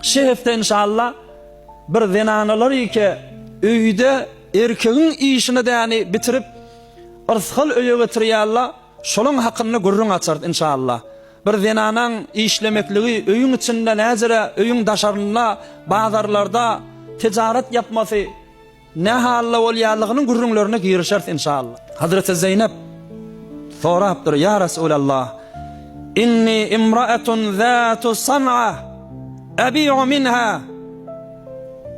Şi hepde inşallah bir zenanalar ike öýde erkegiň işini däni bitirip yrsgal öýe getirýalla şolaň hakynda gürrüň açarys inşallah. Bir zenanaň işlemekligi öýüň içinde näzire öýüň daşarynda bazarlarda tejarat ýapmasy Ne halda bolýanlygynyň gürrüňlerine girişeris inşallah. Hazreti Zeýnep sorapdyr, Ýa Resulallah, inni imraatun zatu san'a abi'u minha.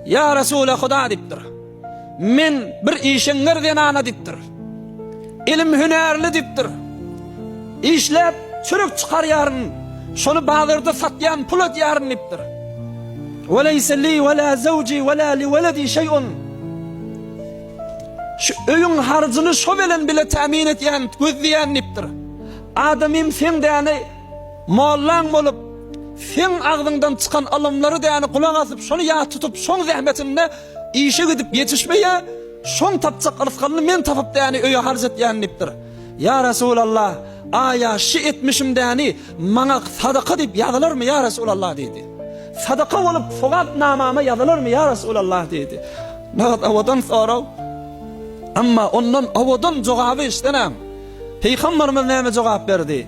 Ýa Resule Huda diýipdir. Men bir işeňňir zenana diýipdir. Elim hünärli dipdir. Işläp çürük çykarýaryn. Şony bazarda satýan pul edýärin dipdir. Ve leyse li ve la zevci ve la li veledi şey'un. Şu öýüň harjyny şo bilen bile tämin etýän, gözleýän dipdir. Adamym sen däni mollan bolup, sen agzyňdan çykan alymlary däni gulak asyp, şony ýat tutup, şoň zähmetinde Işe gidip ýetişmeýä, şoň tapjak rysgalyny men tapyp däni öýe harç etýän diýipdir. Ýa Resulallah, aýa şi etmişim däni maňa sadaka diýip ýazylarmy ýa Resulallah diýdi. Sadaka bolup sogap namama ýazylarmy ýa Resulallah diýdi. Nagt owadan sorag. Amma ondan owadan jogaby işdenem. Pygamberimiz näme jogap berdi?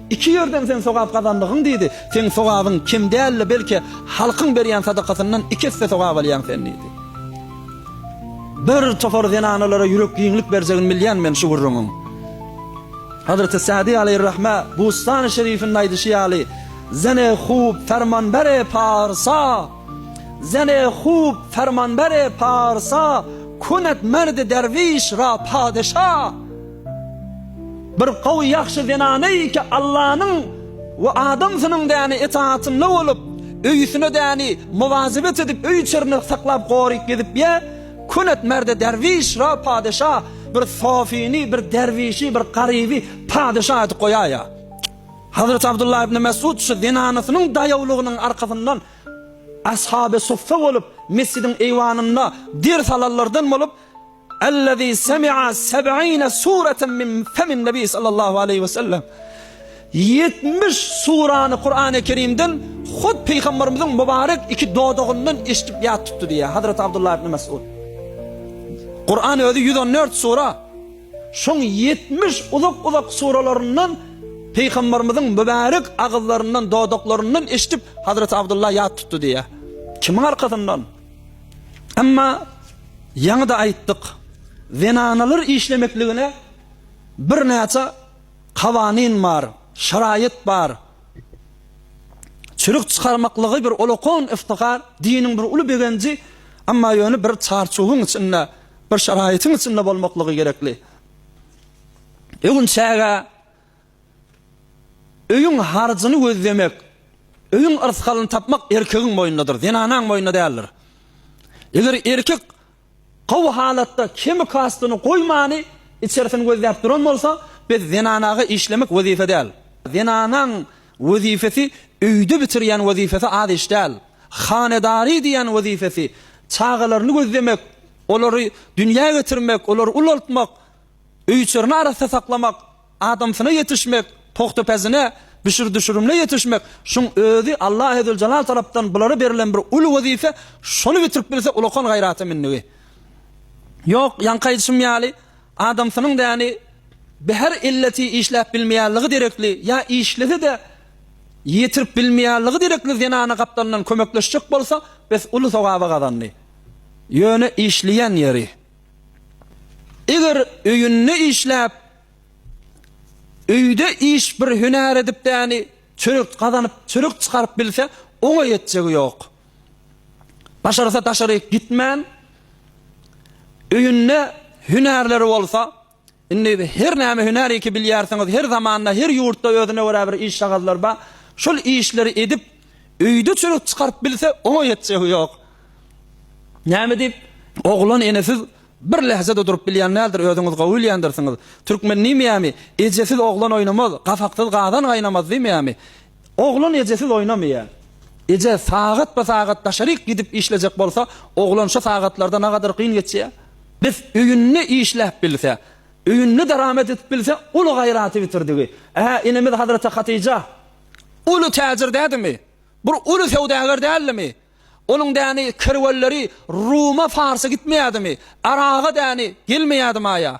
Iki ýerden sen sogap gazandygyň diýdi. Seň sogabyň kem däldi, belki, halkyň berýän sadakasyndan iki esse sogap alýaň sen diýdi. Bir topar zenanalara ýürek giňlik berjegini bilýän men şu gürrüňiň. Hazreti Sadi aleýhirrahme Bustany şerifinde aýdyşy ýaly, Zene hub fermanbere parsa, zene hub fermanbere parsa, kunet merdi derwiş ra padeşa. Bir gowy ýagşy zenana iki Allanyň we adam synyň däni etaatynda bolup, öýüsine däni muwazebet edip öý içerini saklap goryp gezip ýä, könet merde derwiş ra padeşa bir sofini bir derwişi bir garyby padeşa edip goýaýa. Hazreti Abdullah ibn Mesud şu zenanasynyň daýawlygynyň arkasyndan ashaby suffa bolup mesjidiň eýwanynda ders alanlardan bolup, Allazi semi'a seb'ine sureten min femin Nebi sallallahu aleýhi we sellem. Ýetmiş surany Kur'an-y Kerimden hut Pygamberimiziň mübarek iki dodagyndan eşidip ýat tutdy diýýär Hazreti Abdullah ibn Mes'ud. Kur'an özi ýüz on dört sura. Şoň ýetmiş uzak-uzak suralaryndan Pygamberimiziň mübarek agyzlaryndan, dodaklaryndan eşidip Hazreti Abdullah ýat tutdy diýýär. Kimiň arkasyndan? Emma ýaňy-da aýtdyk, zenanalar işlemekligine birnäçe kawanin bar, şaraýat bar. Çürük çykarmaklygy bir ulakon yftihar, diniň bir uly begenji, emma ýöne bir çarçuwyň içinde, bir şaraýatyň içinde bolmaklygy gerekli. Öwünçäge Öýüň harjyny gözlemek, öýüň yrsgalyny tapmak erkegiň boýundadyr, zenanaň boýunda däldir. Eger erkek gowy halatda kemi kastyny goýmany içerisini gözläp duran bolsa, biz zenanaga işlemek wezipe däl. Zenanaň wezipesi öýde bitirýän wezipesi az iş däl. Hanedary diýýän wezipesi, çagalaryny gözlemek, olary dünýä getirmek, olary ulaltmak, öýüçerini arassa saklamak, Adamsyna ýetişmek, pogtapesine, düşür-düşürimine ýetişmek, şuň özi Allahezeljelal tarapdan bulara berilen bir uly wezipe, şony bitirip bilse ulakan gaýrata mündigi. Ýok, ýaňky aýdyşym ýaly, adamsynyň däni bihar illeti işläp bilmeýänligi derekli ýa işlese-de ýetirip bilmeýänligi derekli zenana gapdalyndan kömekleşjek bolsa, bes uly sogaba gazandy. Ýöne işleýän ýeri. Eger öýünde işläp, öýde iş bir hünär edip däni çörek gazanyp, çörek çykaryp bilse, oňa ýetjegi ýok. Başarsa daşaryk gitmän, öýünde hünärleri bolsa, Indi her näme hünär eki bilýärsiňiz, her zamanda, her ýurtda özüne görä bir işagazlar bar. Şol işleri edip, öýde çörek çykaryp bilse, oňa ýetjegi ýok. Näme diýip, oglan enesiz bir lähze-de durup bilýän däldir, özüňiz gowy bilýändirsiňiz. Türkmen diýmeýärmi, Ejesiz oglan oýnamaz, gapaksyz gazan gaýnamaz diýmeýärmi? Oglan ejesiz oýnamaýar. Eje sagatpa-sagat daşaryk gidip işlejek bolsa, oglan şo sagatlarda nagadyr kyn geçýär. Bes, öýünde işläp bilse, öýünde daramat edip bilse, uly gaýraty bitirdigi. Ä, enemiz Hazreti Hatyja uly täjir dädimi? Bir uly söwdäger däldimi? Onuň däni kerwenleri Ruma-Farsa gitmeýädimi? Araga däni gelmeýädi-maýa?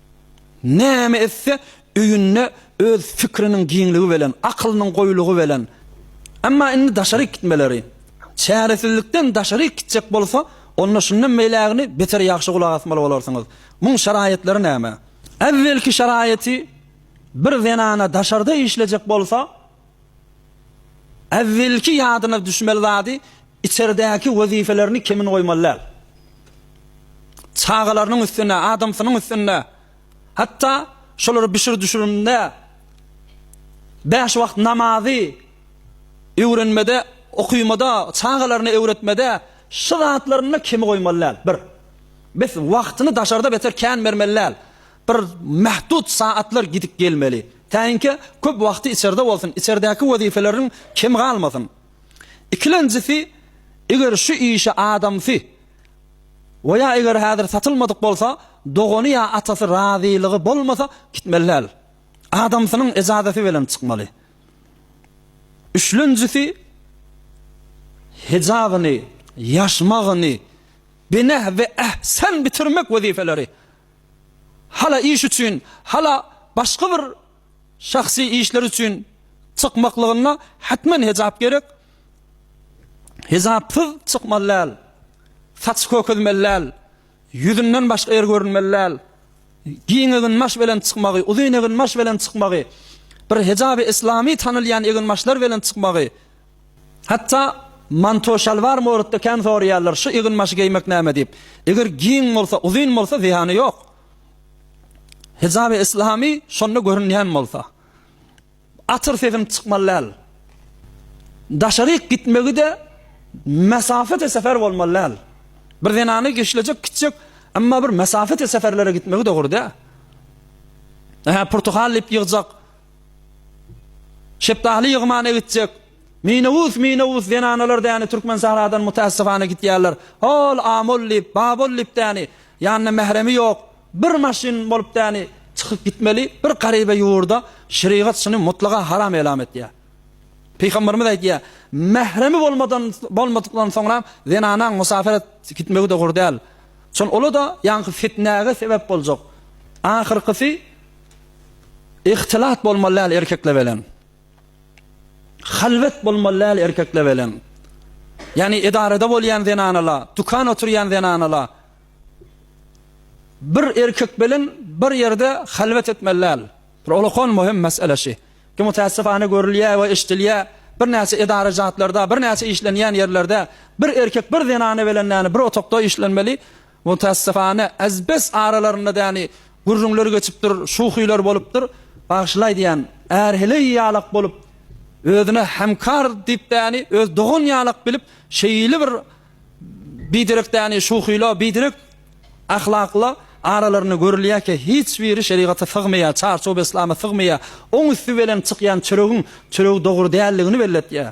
Näme etse, öýünde öz fikriniň giňligi belen, akylynyň goýulygy belen. Emma indi daşaryk gitmeleri. Çäresizlikden daşaryk gitjek bolsa, onda şundan beýlägini beter ýagşy gulak asmaly bolarsyňyz. Muň şaraýatlary näme? Äwwelki şaraýaty, bir zenana daşarda işlejek bolsa, Äwwelki ýadyna düşmeli zady içerdäki wezipelerini kemin goýmaly däl. Çagalarynyň üstüne, adamsynyň üstüne, hatda şolary bişir-düşürmde, bäş wagt namazy öwrenmede, okumada, çagalaryna öwretmede şu zatlarynda kemi goýmaly däl. Bir. Bes wagtyny daşarda beter kän bermeli däl. Bir mähdut sagatlar gidip gelmeli. Käýinkä köp wagty içerde bolsun, içerdäki wezipeleriň kemi galmasyn. Ikilenjisi, eger şu işe adamsy we ýa eger häzir satylmadyk bolsa, dogany ýa atasy razylygy bolmasa, gitmeli däl. Adamsynyň ejazasy bilen çykmaly. Üçlenjisi, hejabyny, ýaşmagyny, bineh we ehsen bitirmek wezipeleri. hala iş üçin, hala başga bir şahsy işler üçin çykmaklygynda hetmen hejap gerek. Hejapsyz çykmaly däl. Saç kökezmeli däl. Ýüzünden başga ýer görünmeli däl. Giň eginbaş bilen çykmagy, uzyn eginbaş bilen çykmagy, bir hejaby islamy tanalýan eginbaşlar bilen çykmagy Hatda manto şalwar moratda kän soraýarlar, şu ýygyn başy geýmek näme diýip. Eger giň bolsa, uzyn bolsa zyýany ýok. Hijaby islamy şonda görünýän bolsa. Atyr sesiň çykmaly däl. Daşaryk gitmegi-de mesafete sefer bolmaly däl. Bir zenany geşlejek gitjek, emma bir mesafete seferlere gitmegi dogry däl. Ähä purtuhal diýip ýygjak. Şepdaly ýygymana gitjek. Minobus, minobus, zenanalar däni Türkmensähradan mutässifana gitýärler. Hol, amol diýip, babol diýip däni, ýanynda mähremi ýok, bir maşyn bolup däni çykyp gitmeli, bir garyba ýurda şerigat şuny mutlaga haram elam etýär. Pygamberimiz aýtýar, mähremi bolmadan bolmadykdan soňra zenanaň musafirat gitmegi dogry däl. Şol ola-da ýaňky fitnäge sebäp boljak. Ahyrkysy Ihtilat bolmaly däl erkekle belen. Halwet bolmaly däl erkekle belen. Ýani edarada bolýan zenanala, tukan oturýan zenanala bir erkek belen bir ýerde halwet etmeli däl. Bir olakan möhüm mesele şi. Ki mutässifane görülýä we eşdilýä bir näçe edara jatlarda, bir näçe işlenýän ýerlerde bir erkek bir zenana belen däni bir otakda işlenmeli, Mutassyfana az-bes aralarynda däni gürrüňler geçipdir, şuhylar bolupdyr. Bagyşlaý diýýän är heleý ýalak bolup, özüne hemkar diýip däni öz dogan ýalak bilip, şeýle bir biderek däni şuhyla, biderek ahlakla aralarynda görülýärkä, hiç biri şerigata sygmaýar, çarçow-beslama sygmaýar. Oň üsti belen çykýan çöregiň çöregi dogry däldigini belletýär.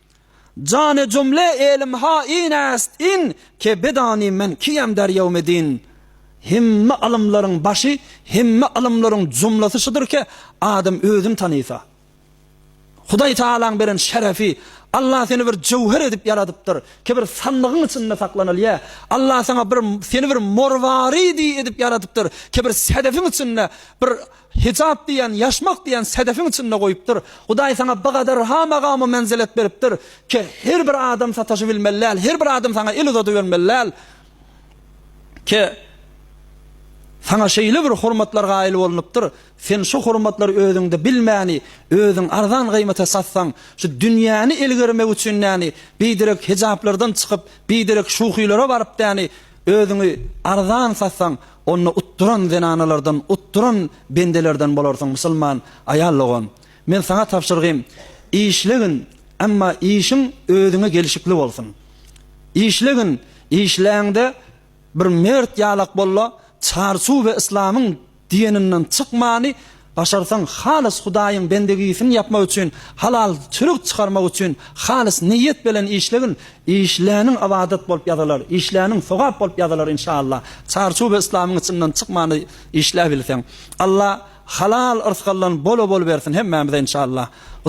Jane jumle elim ha in äst in ke bedani men kiyem derýew medin Hemme alymlaryň başy hemme alymlaryň jumlasy şudur ke adam özün tanysa Hudaý taalaň beren şerefi Allah seni bir jöwher edip ýaradypdyr ke bir sandygyň içinde saklanylýa Allah saňa bir seni bir morwari di edip ýaradypdyr ke bir sedefiň içinde bir Hijap diýýän, ýaşmak diýýän sedefiň içinde goýupdyr. Hudaý saňa bigadar ha magamy menzilet beripdir ke, her bir adam sataşybilmeli däl, her bir adam saňa el uzadybermeli däl ke, saňa şeýle bir hormatlar gaýyl bolunupdyr, sen şu hormatlary özüňde bilmäni, özüň arzan gymata satsaň, şu dünýäni elgermek üçin däni, biderek hijaplardan çykyp, biderek şuhylara baryp däni, özüňi arzan satsaň, Onda utduran zenanalardan, utduran bendelerden bolarsyň, musulman aýal dogan. Men saňa tabşyrgym, işlegin, emma işiň özüňe gelşikli bolsun. Işlegin, işläňde bir mert ýalak bol-la, çarçuw we yslamyň diýeninden çykmany Başarsaň halys Hudaýyň bendegisini ýapmak üçin, halal çörek çykarmak üçin halys niýet belen işlegin, işläniň ybadat bolup ýazylar, işläniň sogap bolup ýazylar inşallah. Çarçuby yslamyň içinden çykmany işläbilseň. Alla halal yrsgaldan bol-a bol bersin hemmämize inşallah.